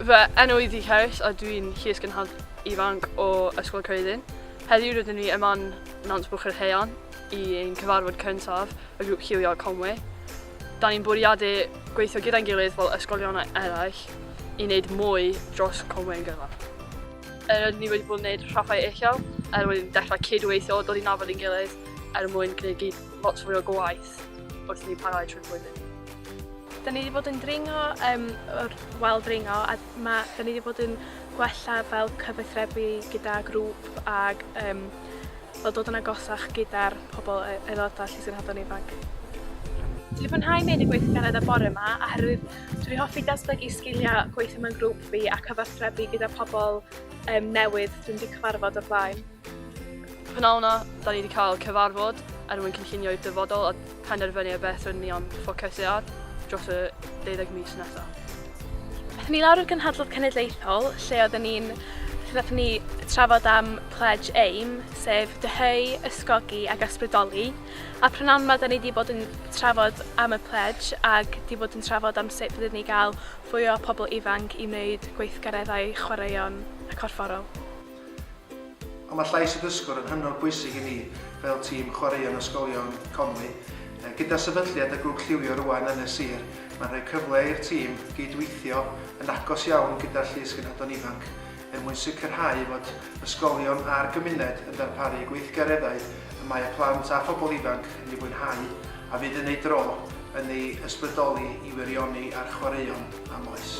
Fy enw i Ddi Harris a dwi'n Llys Gynhad Ifanc o Ysgol Cyrddin. Heddiw rydyn ni yma'n Nant Bwch yr Heian i ein cyfarfod cyntaf y grŵp lliwio Conwy. Da ni'n bwriadu gweithio gyda'n gilydd fel ysgolion eraill i wneud mwy dros Conwy yn gyfan. Er rydyn ni wedi bod yn gwneud rhaffau uchel, er wedi dechrau cydweithio, dod i nabod ein gilydd er mwyn gwneud gyd lot fwy o gwaith wrth ni parhau trwy'r flwyddyn. Da ni wedi bod yn dringo um, o'r wal dringo a ma, da ni wedi bod yn gwella fel cyfathrebu gyda grŵp ag um, Fel dod yn agosach gyda'r pobl, aelodau Llys Cenhedloedd Ifanc. Dwi 'di mwynhau mynd i gweithgaredd y bore 'ma oherwydd dwi 'di hoffi datblygu sgiliau gweithio mewn grŵp fi a cyfathrebu gyda pobl yym newydd dwi'm 'di cyfarfod o'r blaen. Y p'nawn 'na, 'da ni 'di cael cyfarfod er mwyn cynllunio i'r dyfodol a penderfynu ar beth rydyn ni am ffocysu ar dros y deuddeg mis nesaf. Aethon ni lawr i'r Gynhadledd Cenedlaethol lle oedden ni'n lle nathon ni trafod am Pledge Aim, sef dyheu, ysgogi ac ysbrydoli, a prynawn 'ma 'da ni 'di bod yn trafod am y Pledge ac 'di bod yn trafod am sut fydden ni gael fwy o pobl ifanc i wneud gweithgareddau chwaraeon a corfforol. Ond mae llais y dysgwr yn hynod bwysig i ni fel tîm chwaraeon ysgolion Conwy. Gyda sefydliad y grŵp lliwio rŵan yn y sir, mae'n rhoi cyfle i'r tîm gyd-weithio yn agos iawn gyda'r llysgenhadon ifanc er mwyn sicrhau fod ysgolion a'r gymuned yn darparu gweithgareddau y mae y plant a phobl ifanc yn ei fwynhau a fydd yn ei dro yn ei ysbrydoli i wirioni ar chwaraeon am oes.